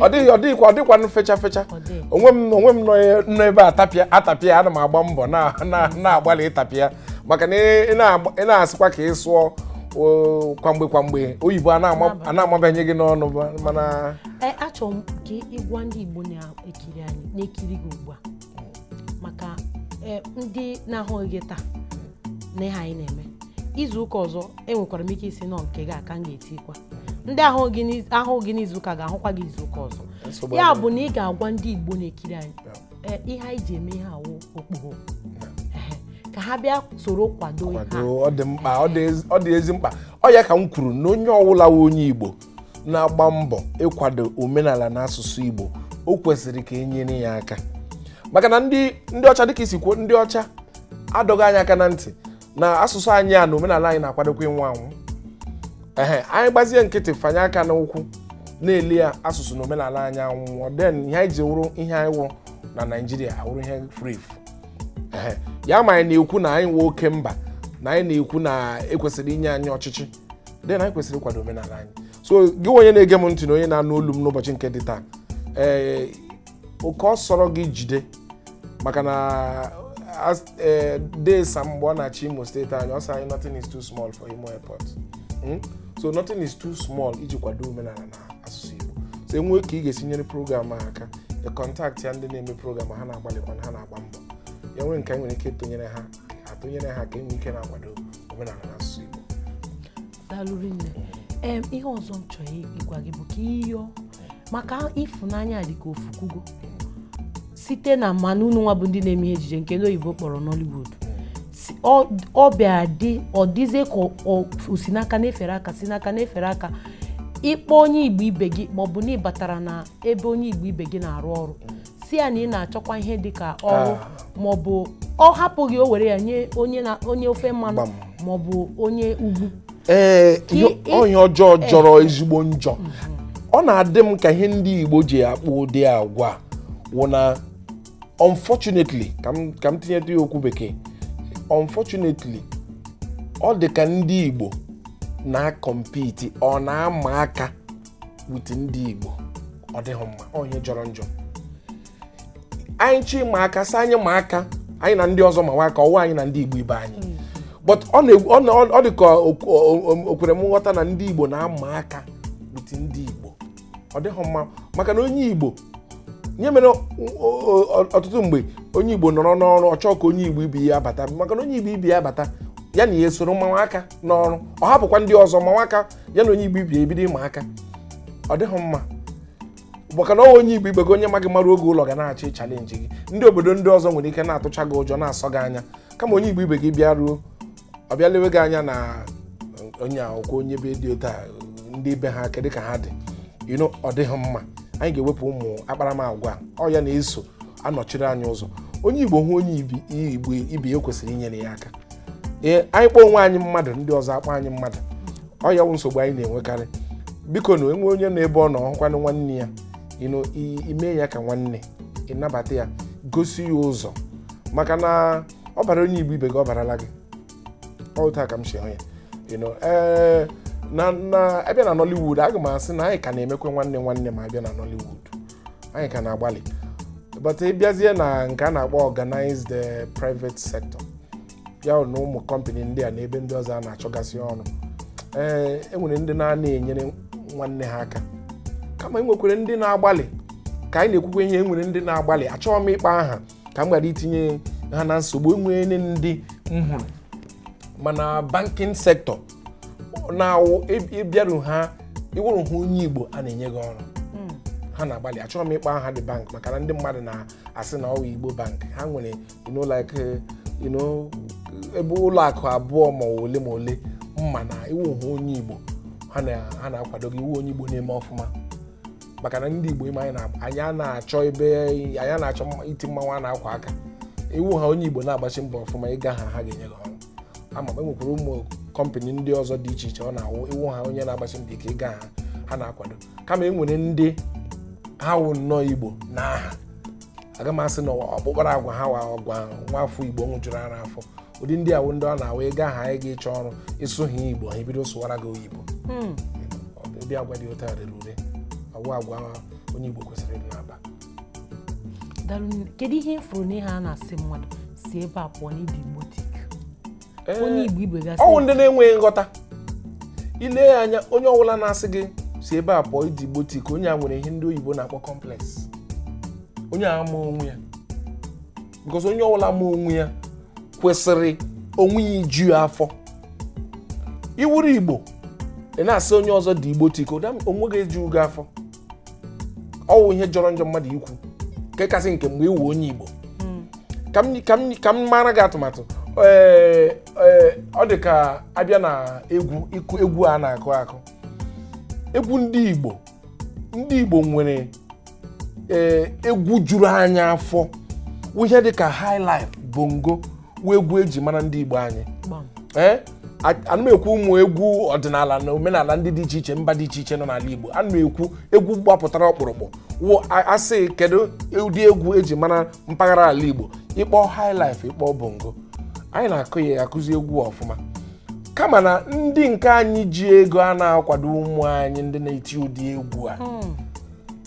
ọ dịghị ọ dịghịkwa ọ dịkwanụ fecha fecha Ọ dịghị. onwe m onwe m nọ e- nọ ebe a tapịa atapịa ana m agba mbọ na- na- na-agbalị ịtapịa maka na ị na-agba- ị na-asịkwa ka ị sụọ o, kwamgbe kwamgbe oyibo a na-ama- a na-amabanye gị n'ọnụ ba- mana Ee, achọrọ m ka ị gwa ndị Igbo na-ekiri anyị na-ekiri gị ugbu a maka eh, ndị na-ahụghị gị taa na ihe anyị na-eme izu ụka ọzọ enwekwara m ike ịsị na ọ nke gị a ka m ga-etikwa ndị ahụghị gị n'iz- ahụghị gị n'izu ụka ga-ahụkwa gị izu ụka ọzọ Nsogbu ya adịghị. bụ na ị ga-agwa ndị igbo na-ekiri anyị eh, ihe anyị ji eme ihe a wụ okpogho Ehe, ka ha bịa soro kwado ihe a. kwado ọ dị mkpa ọ dị ezi- ọ dị ezi mkpa ọ ya ka m kwuru na onye ọwụla wụ onye igbo na-agba mbọ ịkwado omenala na asụsụ Igbo o kwesịrị ka e nyere ya aka maka na ndị ndị ọcha dịka i si kwuo ndị ọcha adọgo anyị aka na ntị na asụsụ anyị a na omenala anyị na-akwadokwa ịnwụ anwụ ehe anyị gbazie nkịtị fanye aka n'ụkwụ na-ele ya asụsụ na omenala anyị anwụọ then ihe anyị ji wụrụ ihe anyị wụrụ na Naịjirịa awụrụ ihe furu efu ya ma anyị na-ekwu na anyị nwe oke mba na anyị na-ekwu na e kwesịrị inye anyị ọchịchị then anyị kwesịrị ịkwado omenala anyị so gị onye na-ege m ntị na onye na-anụ olu m n'ụbọchị nke dị taa ee oke ọ sọrọ gị jide maka na as- ee, Dee Sam mgbe ọ na-achị imo steeti anyị ọ sị anyị nothing is too small for imo airport Mm? so nothing is too small iji kwado omenala na asụsụ igbo so e nwee ka ị ga-esi nyere program a aka ị kọntaktịa ndị na-eme program ha na-agbalịkwa na ha na-agba mbọ ya nwere nke anyị nwere ike ịtụnyere ha atụnyere ha ka e nwee ike na-akwado omenala na asụsụ Igbo daalụ rinne em ihe ọzọ m chọrọ ịgwa gị bụ ka ịyọ maka ịfụnanya dị ka o fukwugo site na m ma na unu nwa bụ ndị na-eme ihe ejije nke ndị oyibo kpọrọ Nollywood si- ọ- ọ bịara dị ọ dịzie ka ọ- ọ o si n'aka na-efere aka si n'aka na-efere aka ị kpọọ onye igbo ibe gị maọbụ na ị batara na ebe onye igbo ibe gị na-arụ ọrụ sị ya na ị na-achọkwa ihe dị ka ọrụ maọbụ ọ hapụ gị o were ya nye onye na onye ofe mmanụ Gbam. maọbụ onye ugwu ee Ka ihe- ị- ọ ihe ọjọọ jọrọ ezigbo njọ ọ na-adị m ka ihe ndị igbo ji akpa ụdị agwa a wụ na unfortunately ka m ka m tinyetụ ya okwu bekee unfortunately ọ dị ka ndị igbo na-akọmpiti or na-ama aka with ndị Igbo ọ dịghị mma ọ ihe jọrọ njọ anyị chọọ ịma aka sị anyị ma aka anyị na ndị ọzọ mawa aka ọwụ anyị na ndị Igbo ibe anyị hmm. but ọ dị ka o kwere m nghọta na ndị Igbo na-ama aka with ndị Igbo ọ dịghị mma maka na onye Igbo ihe mere ọtụtụ mgbe onye Igbo nọrọ n'ọrụ ọ chọọ ka onye Igbo ibe ya bata maka na onye Igbo ibe ya bata ya na ya esoro mawa aka n'ọrụ ọ hapụkwa ndị ọzọ mawa aka ya na onye igbo ibe ya ebido ịma aka ọ dịghị mma maka na ọ wụ onye igbo ibe gị onye ma gị maruo gị ụlọ ga na-achọ ịchalenji gị ndị obodo ndị ọzọ nwere ike na-atụcha gị ụjọ na-asọ gị anya kama onye igbo ibe gị bịa ruo ọ bịa lewe gị anya na onye a wụkwa onye be dị otu a ndị be ha kedụ ka ha dị ọ dịghị mma anyị ga-ewepụ ụmụ akparamagwa ọ ya na-eso anọchiri anyị ụzọ onye igbo hụ onye igbo ibe ya kwesịrị inyere ya aka ee anyị kpọọ onwe anyị mmadụ ndị ọzọ akpọọ anyị mmadụ ọ ya wụ nsogbu anyị na-enwekarị biko na e nwee onye n'ebe ọ nọ ọ hụkwanụ nwanne ya ime ya ka nwanne ịnabata ya gosi ya ụzọ maka na ọ bara onye igbo ibe gị ọ barala gị otu a ka m si hụ ya na a bịa na Nollywood aga m asị na anyị ka na-emekwe nwanne nwanne ma a bịa na Nollywood anyị ka na-agbalị but ị bịazie na nke a na-akpọ organized eh, private sector ya na ụmụ kọmpanị ndị a na ebe ndị ọzọ a na-achọgasị ọrụ ee e nwere ndị na-anaghị enyere nwanne ha aka kama enwekwere ndị na-agbalị ka anyị na-ekwukwa ihe enwere ndị na-agbalị achọghị m ịkpọ aha ka m ghara itinye ha na nsogbu enwere ndị m hụrụ ma na banking sector na-awụ ị bịaru ha ị wụrụ ha onye igbo ha na-enye gị ọrụ hmm. ha na-agbalị achọghị m ịkpọ aha the bank maka na ndị mmadụ na-asị na ọ wụ igbo bank ha nwere ebe ụlọ akụ abụọ ma ole ma ole m ma na ị wụ ha onye igbo ha na-akwado gị ị wụ onye igbo na-eme ọfụma maka na ndị igbo ime anyị a na-achọ ebe anyị anaghị achọ iti mmanwụ a na-akwa aka ị wụ ha onye igbo na-agbachi mbọ ọfụma ị ga ha ha ga-enye gị ọrụ ama m enwekwara ụmụ kọmpanị ndị ọzọ dị iche iche ọ na-awụ ị wụ ha onye na-agbasi mbọ ike ị ga ha ha na-akwado kama e nwere ndị ha wụ nnọọ igbo n'aha aga m asị na ọkpụkpara agwa ha awụghị agwa nwa afọ igbo nwụjuru ara afọ ụdị ndị a wụ ndị ọ na-awụ ị ga ha anyị ga ịchọ ọrụ ị sụọ ha igbo ha ebido sụwara gị oyibo hmm. ụdị agwa dị otu a rere ure ọ wụghị agwa onye igbo kwesịrị ịdị na-akpa daalụ nne. kedu ihe ị fụrụ n'ihe a na-asị mmadụ si ebe a pụọ na ị dị Igbotic Ee, onye igbo ibe gị asị ọ wụ ndị na-enweghị nghọta i lee ya anya onye ọbụla na-asị gị si ebe a pụọ ị dị Igbotic onye a nwere ihe ndị oyibo na-akpọ complex onye a amaghị onwe ya because onye ọbụla ma onwe ya kwesịrị onwe ya iju ya afọ ị wụrụ igbo ị na-asị onye ọzọ dị Igbotic onwe gị ejughị gị afọ ọ wụ ihe jọrọ njọ mmadụ ikwu nke kasị nke mgbe ị wụ onye Igbo hmm. ka m ka m ka m maara gị atụmatụ ee eh, ee eh, ọ dị ka a bịa n'egwu ịkụ egwu a na-akụ akụ egwu ndị Igbo ndị Igbo nwere ee eh, egwu juru anya afọ ihe dị ka highlife bongo wụ egwu eji mara ndị Igbo anyị ee eh? ana m ekwu ụmụ egwu ọdịnala na omenala ndị dị iche iche mba dị iche iche nọ n'ala Igbo ana m ekwu egwu gbapụtara ọkpụrụkpụ wụ asị kedu ụdị egwu eji mara mpaghara ala Igbo ịkpọ highlife ịkpọ bongo anyị na-akụ ya akụzi egwu ọfụma kama na ndị nke anyị ji ego a na-akwado ụmụ anyị ndị na-eti ụdị egwu a hmm.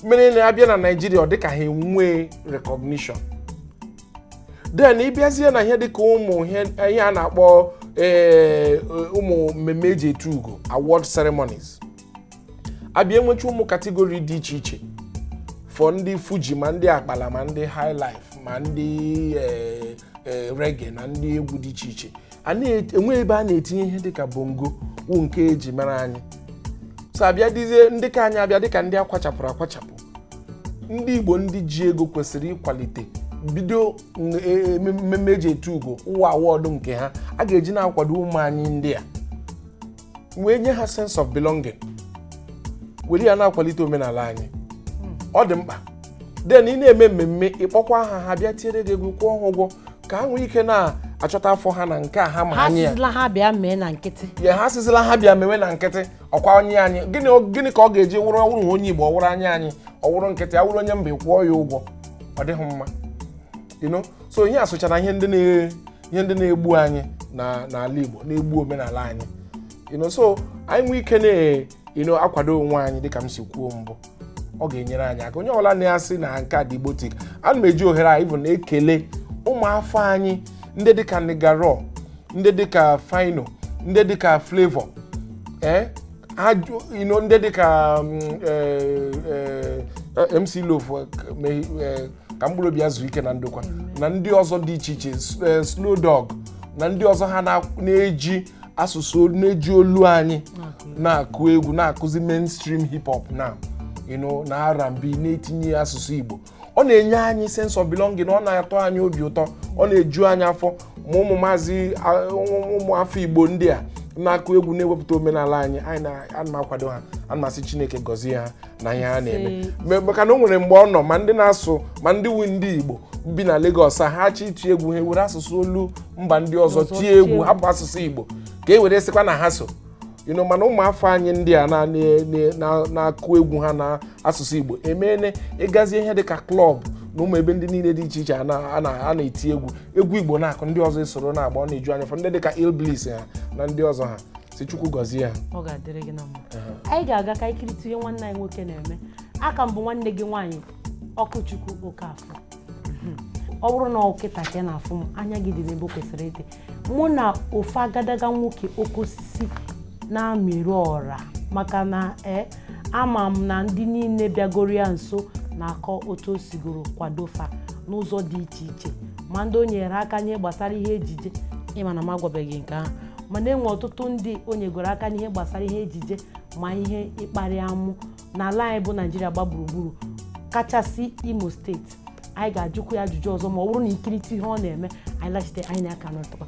mere na abịa na Naịjirịa ọ dịka ha enwee recognition then ịbịazie na ihe dịka ụmụ ihe ihe a na-akpọ ee, ụmụ mmemme eji etu ugo award ceremonies abịa enwecha ụmụ kategori dị iche iche for ndị fuji ma ndị akpala ma ndị high life ma ndị eh, eh, reggae na ndị egwu dị iche iche enweghị ebe a na-etinye ihe dịka bongo wụ nke eji mara anyị so abịa dịzie ndị ka anyị abịa dịka ndị akwachapụrụ akwachapụ ndị igbo ndị ji ego kwesịrị ịkwalite bido n- e- e- mmemme eji etu ugo ụwa award nke ha a ga-eji na-akwado ụmụ anyị ndị a wee nye ha sense of belonging were ya na-akwalite omenala anyị ọ dị mkpa then ị na-eme mmemme ịkpọkwaa ha ha bịa tiere gị egwu kwụọ ha ụgwọ ka ha nwee ike na-achọta afọ ha na nke a ha ma ha anyị asịzila ha bịa mee na nkịtị asịzila ha bịa mewe na nkịtị ọkwa onye anyị gịnị gịnị ka ọ ga-eji wụrụ ọwụrụ onye igbo ọwụrụ onye anyị ọwụrụ nkịtị ọwụrụ onye mba ịkwụọ ya ụgwọ ọ dịghị mma you know so ihe a sochara ihe ndị na- ihe ndị na-egbu anyị na n'ala Igbo na-egbu omenala anyị you know so anyị nwee ike na you know, akwado onwe anyị dịka m si kwuo mbụ ọ ga-enyere anyị aka onye ọbụla na-asị na nke a dị Igbotic ana m eji ohere a even ekele ụmụafọ anyị ndị dịka Nigga Raw ndị dịka Phyno ndị dịka Flavour ee you know ndị dịka mm, eh, eh, MC Loph eh, me- eh, ka mkpụrụ obi ya zuo ike na ndokwa na ndị ọzọ dị iche iche s- eh, Slow Dog na ndị ọzọ ha na- na-eji asụsụ olu- na-eji olu anyị na-akụ egwu na-akụzi mainstream hip hop na you know, na R&B na-etinye asụsụ Igbo ọ na-enye anyị sense of belonging ọ na-atọ anyị obi ụtọ ọ na-eju anyị afọ ma ụmụ maazị a- ụmụ ụmụ afọ Igbo ndị a na-akụ egwu na-ewepụta omenala anyị anyị na- ana m akwado ha ana m asị Chineke gọzie ha na ihe ha na-eme Me- maka na o nwere mgbe ọ nọ ma ndị na-asụ ma ndị wu ndị igbo bi na Lagos a, ha achọ iti egwu ha ewere asụsụ olu mba ndị ọzọ tie egwu hapụ asụsụ igbo ka e were sịkwa na ha so you know, mana ụmụafọ anyị ndị a na- na- na- na- na-akụ egwu ha na asụsụ igbo emeene ịgazie ihe dịka klọb na ụmụ ebe ndị niile dị iche iche a na- a na- a na-eti egwu egwu igbo na-akụ ndị ọzọ esoro na-agba ọ na-eju anyị afọ ndị dịka Illbliss ha na ndị ọzọ ha si chukwu gọzie ha ọ ga-adịrị gị na mma anyị ga-aga ka i kirita ihe nwanne anyị nwoke na-eme aka m bụ nwanne gị nwaanyị okwuchukwu okafọ ọ bụrụ na ọ kịta ka ị na-afụ m anya gị dị n'ebe o kwesịrị ịdị mụ na ofu agadaga nwoke oke osisi na-amịrị ọra maka na ee ama m na ndị niile bịagoro ya nso na-akọ otu o sigoro kwado fa n'ụzọ dị iche iche ma ndị o nyere aka n'ihe gbasara ihe ejije ị ma na m agwabeghị nke ahụ mana e nwe ọtụtụ ndị o nyegoro aka n'ihe gbasara ihe ejije ma ihe ịkparị amụ n'ala anyị bụ naijiria gba gburugburu kachasị imo steeti anyị ga-ajụkwu ya ajụjụ ọzọ ma ọ bụrụ na i kirita ihe ọ na-eme anyị lachite anyị na-aka nọtụkwa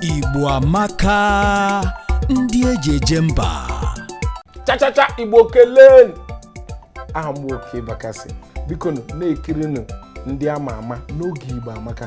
Igbo amaka ndị eji eje mba chachacha igbo kelee aha m Okey Bakassi bikonụ na-ekirinụ ndị ama ama n'oge igbo amaka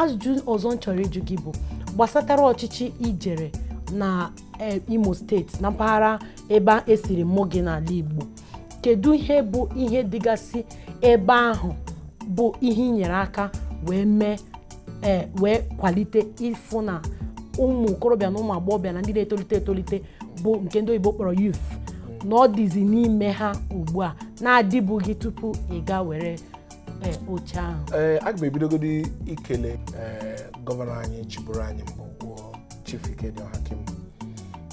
ajụjụ ọzọ m chọrọ ịjụ gị bụ gbasatara ọchịchị i jere na eh, imo steeti na mpaghara ebe e siri mụ gị n'ala igbo kedu ihe bụ ihe dịgasị ebe ahụ bụ ihe i nyere aka wee mee ee wee kwalite ịfụ na ụmụ okorobịa na ụmụ agbọghọbịa na ndị na-etolite etolite bụ nke ndị oyibo kpọrọ youth na ọ dịzi n'ime ha ugbu a na-adịbughị tupu ị gaa were ee, oche ahụ ee aga m ebidogodi ikele ee, gọvanọ anyị chịburu anyị mbụ bụ Chief Ikedi Ohakim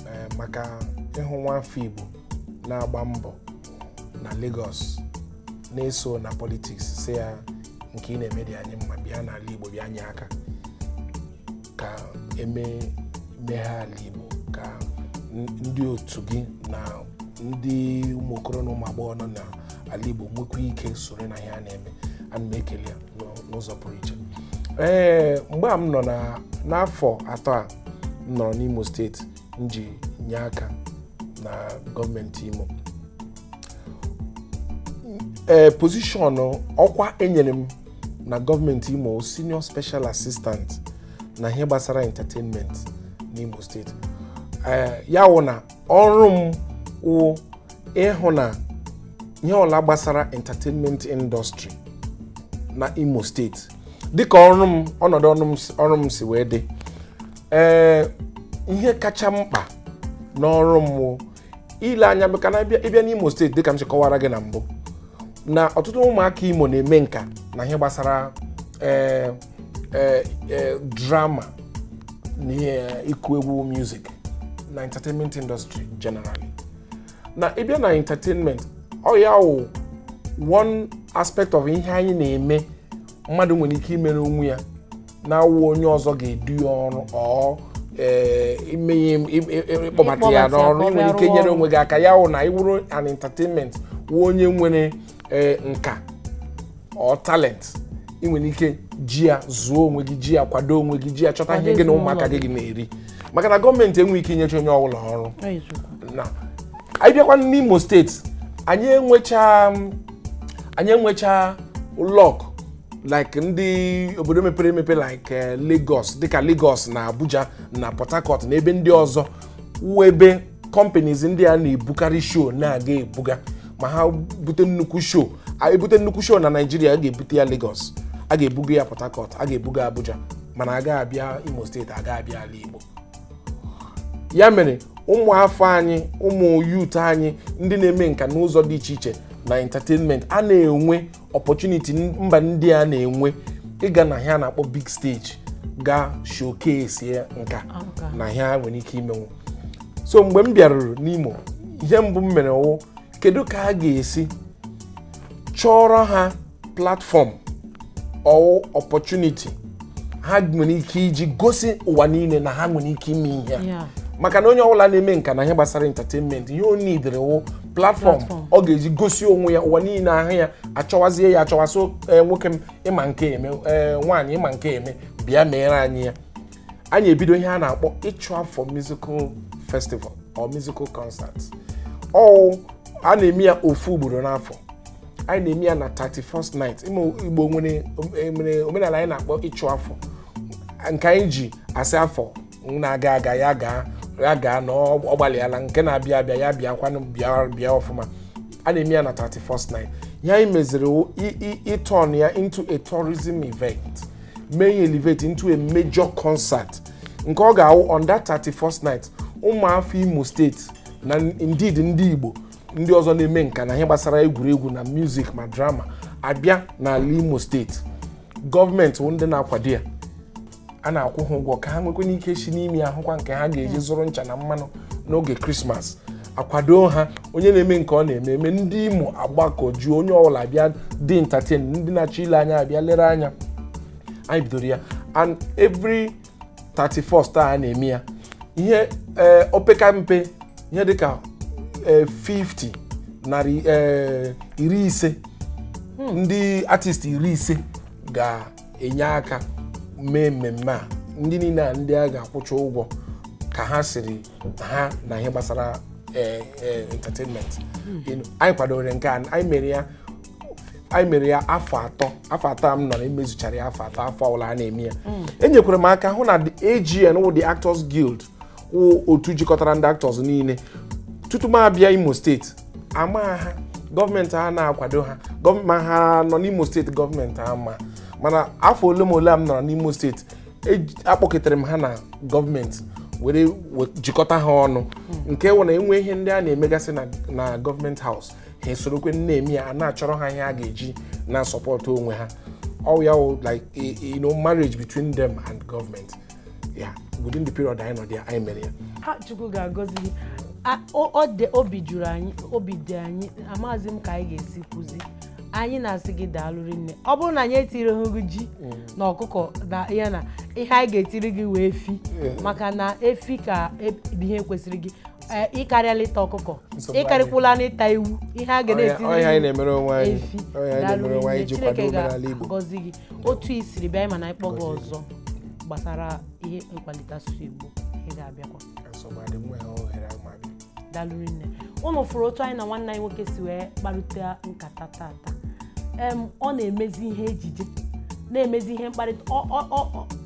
ee, maka ịhụ nwa afọ Igbo na-agba mbọ na Lagos na-eso na politiks sị ya nke ị na-eme dị anyị mma bịa n'ala Igbo bịa nye aka ka eme meghe ala Igbo ka n- ndị otu gị na ndị ụmụ okoro na ụmụ agbọghọ nọ n'ala Igbo nwekwa ike soro na ihe a na-eme ana m ekele ya n'ụ- n'ụzọ pụrụ iche ee mgbe a m nọ na n'afọ atọ a m nọrọ n'Imo steeti m ji nye aka na gọọmenti Imo ee pozishọn ọkwa e nyere m na gọọmenti Imo senior special assistant na ihe gbasara entertainment n'Imo steeti ee ya wụ na ọrụ m wụ ịhụ na ihe ọla gbasara entertainment industry na Imo steeti dịka ọrụ m ọnọdụ ọrụ m si wee dị ee ihe kacha mkpa n'ọrụ m wụ ile anya maka na ị bịa ị bịa n'imo steeti dịka m si kọwara gị na mbụ na ọtụtụ ụmụaka imo na-eme nka na ihe gbasara ee ee ee drama na ihe ịkụ egwu music na entertainment industry generally na ị bịa na entertainment ọ ya wụ one aspect of ihe anyị na-eme mmadụ nwere ike imere onwe ya na-awụ onye ọzọ ga-edu ya ọrụ or ee, ime ihe im- im- im- ịkpọbata ya Ịkpọbata ya ka n'ọrụ ọ ị nwere bịa ike rụọ nyere ọrụ. onwe gị aka ya wụ na ị wụrụ an entertainment wụ onye nwere ee, nka or talent ị nwere ike ji ya zụọ onwe gị ji ya kwado onwe gị ji ya chọta ihe gị na ụmụaka gị ga na-eri maka na gọọmenti enweghị ike inyecha onye ọbụla ọrụ na anyị bịakwa n'imo steeti anyị enwecha anyị enwecha luck like ndị obodo mepere emepe like eh, Lagos dịka Lagos na Abuja na Port Harcourt na ebe ndị ọzọ wụ ebe companies ndị a na-ebukarị show na-aga ebuga ma ha bute nnukwu show a ebute nnukwu show na Naịjirịa a ga-ebute ya Lagos a ga-ebuga ya Port Harcourt a ga-ebuga Abuja mana a ga abịa Imo steeti a ga abịa ala Igbo ya mere ụmụ afọ anyị ụmụ youth anyị ndị na-eme nka n'ụzọ dị iche iche na entertainment a na-enwe opportunity mba ndị a na-enwe ịga na ihe a na-akpọ big stage ga showcase ya nka na ha nwere ike imenwu so mgbe m bịaruru n'Imo ihe mbụ m mere wụ kedu ka a ga-esi chọọrọ ha platform or opportunity ha nwere ike iji gosi ụwa niile na ha nwere ike ime ihe a. Yeah. maka na onye ọbụla na-eme nka na ihe gbasara entertainment ihe o nidere wụ platform ọ ga-eji gosi onwe ya ụwa niile ahụ ya achọwazie ya achọwa sị eh, nwoke m ị ma nke eme eh, nwaanyị ị ma nke eme bịa meere anyị ya anyị ebido ihe a na-akpọ ịchụ afọ musical festival or musical concert ọ a na-eme ya ofu ugboro n'afọ anyị na-eme ya na 31st night igbo nwere omenala anyị na-akpọ ịchụ afọ nke anyị ji asị afọ na-aga aga ya gaa ya gaa na ọ ọ gbalịala nke na-abịa abịa ya bịakwanụ bịa bịa ọfụma a na-eme ya na 31st night ihe anyị meziri wụ i- i- ịturn ya into a tourism event mee ya elevate into a major concert nke ọ ga-awụ on that 31st night ụmụ afọ imo steeti na indeed ndị igbo ndị ọzọ na-eme nka na ihe gbasara egwuregwu na music ma drama abịa n'ala imo steeti gọọmenti wụ ndị na-akwado ya a na-akwụ ha ụgwọ ka ha nwekwana ike si n'ime ahụkwa nke ha ga-eji zụrụ ncha na mmanụ n'oge krismas akwado ha onye na-eme nke ọ na-eme eme ndị imo agbakọjuo onye ọbụla bịa dị entertain ndị na-achọ ile anya abịa lere anya anyị bidoro ya on every 31st a na-eme ya ihe ee opeka mpe ihe dịka ee 50 narị ee iri ise ndị artist iri ise ga enye aka mee mmemme a ndị niile a ndị a ga-akwụcha ụgwọ ka ha siri ha na ihe gbasara eh, eh, entertainment You know, anyị kwadoro nke a anyị mere ya anyị mere ya afọ atọ afọ atọ a m nọrọ emezuchara ya afọ atọ afọ ọbụla a na-eme ya enyekwara m aka hụ na the AGN wụ the Actors Guild wụ otu jikọtara ndị actors niile tutu m abịa imo steeti ama ha gọọmenti a na-akwado ha ma ha nọ n'imo steeti gọọmenti ama mana afọ ole ma ole m nọrọ n'imo steeti akpọketere m ha na gọọmenti were jikọta ha ọnụ nke wụ na e nwee ihe ndị a na-emegasị na gọọmenti house ha esorokwe na-eme ya a na-achọrọ ha ihe ha ga-eji na-asupport onwe ha ọ wụ ya like you know marriage between them and government ya within the period anyị nọ there anyị mere ya ha chukwu ga-agọzi gị A- o- ọ dị obi juru anyị obi dị anyị amaghịzi m ka anyị ga-esi kwuzi anyị na-asị gị daalụ rinne ọ bụrụ na anyị etirighị gị ji na ọkụkọ na ya na ihe anyị ga-etiri gị wụ efi maka na efi ka e- bụ ihe kwesịrị gị Ee, ị karịala ịta ọkụkọ Nsogbu ị karịkwula n'ịta ewu ihe a ga Ọ ihe- na-etiri ọ ihe anyị gị na-emere onwe anyị efi ọ ihe anyị na-emere onwe anyị iji kwado omenala Igbo gọzi gị otu i siri bịa anyị ma na a kpọọ gị ọzọ gbasara ihe nkwalite asụsụ Igbo ị ga-abịakwa daalụ rinne unu fụrụ otu anyị na nwanne anyị nwoke si wee kparịta nkata tata ọ na-emezi ihe ejije na-emezi ihe mkparịta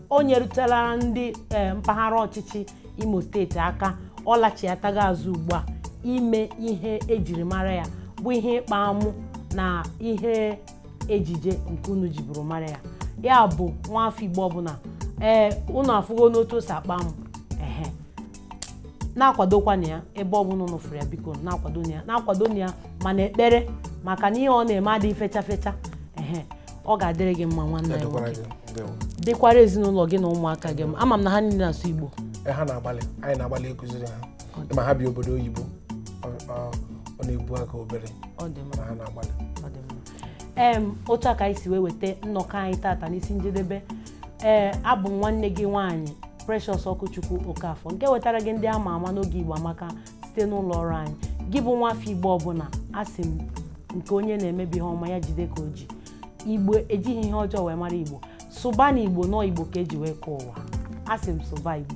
o nyerutela ndị e, mpaghara ọchịchị Imo steeti aka ọ lachiatago azụ ugbu a ime ihe ejiri mara ya bụ ihe ịkpa amụ na ihe ejije nke unu jiburu mara ya ya bụ nwa afọ igbo ọbụla ee unu afụgonụ otu o si akpa amụ ehe na-akwadokwana ya ebe ọbụla unu fụrụ ya biko na-akwado ya na-akwado ya ma n'ekpere maka na ihe ọ na-eme adịghị fecha fecha ehe ọ ga-adịrị gị mma nwanne anyị Ọ dịkwara nwoke. gị. Ndewo. dịkwara ezinụlọ gị na ụmụaka gị mma. ama m na ha niile na-asụ igbo Ee, ha na-agbalị anyị na-agbalị ịkụziri ha ma ha bi obodo oyibo ọ na-ebu aka obere mana ha na-agbalị em otu a ka anyị si wee weta nnọkọ anyị tata n'isi njedebe ee abụ m nwanne gị nwaanyị Precious Okwuchukwu Okafọ nke wetara gị ndị ama ama n'oge Igbo Amaka site n'ụlọ ọrụ anyị gị bụ nwa afọ Igbo ọbụla asị m nke onye na-eme bụ ihe ọma ya jide ka o ji Igbo ejighi ihe ọjọọ wee mara Igbo sụba na Igbo nọ Igbo ka eji wee kọọ ụwa asị m sụba Igbo